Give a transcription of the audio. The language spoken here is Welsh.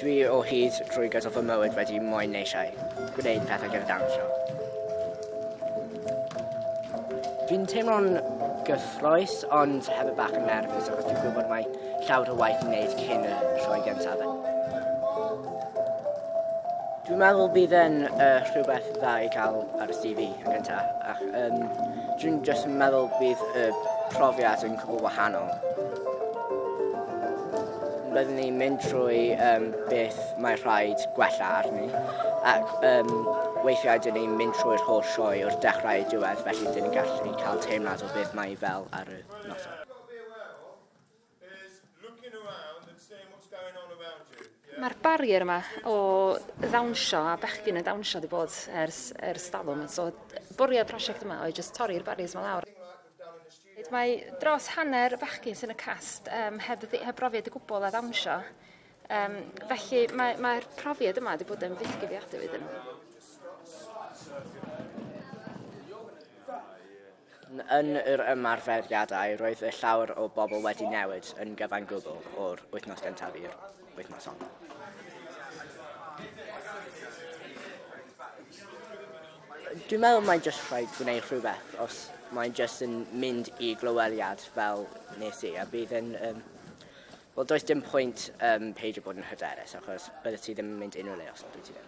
Dwi o hyd trwy gydol fy mywyd wedi moyn neisiau, gwneud pethau gyda dawnsio. Dwi'n teimlo'n gyffroes, ond hefyd bach yn nerfus, achos dwi'n gwybod mae llawer o waith i wneud cyn y sioe gyntaf. Dwi'n meddwl bydd yn uh, rhywbeth dda i cael ar y CV. gynta ac um, dwi'n jyst yn meddwl bydd y profiad yn cwbl wahanol. Byddwn ni'n mynd trwy um, beth mae rhaid gwella arni ac um, weithiau dyn ni'n mynd trwy'r holl sioe o'r dechrau i diwedd felly dyn ni'n gallu cael teimlad o beth mae fel ar y noson. Mae'r barrier yma o ddawnsio a bechgyn yn dawnsio wedi bod ers ers talwm so bwriad y prosiect yma oedd jyst torri'r barriers 'ma lawr. Mae dros hanner y bechgyn sy'n y cast um, heb, heb brofiad o gwbl a ddawnsio. Um, felly mae'r mae profiad yma wedi bod yn fythgyfiadwy iddyn nhw. Yn yr ymarferiadau, roedd y llawer o bobl wedi newid yn gyfan gwbl o'r wythnos gyntaf i'r wythnos hon. Dwi'n meddwl mae'n jyst rhaid gwneud rhywbeth os mae'n jyst yn mynd i glyweliad fel nes i a bydd yn... Um, Wel, does dim pwynt um, peidio bod yn hyderus achos bydde ti ddim yn mynd unrhyw le os bydde ti ddim.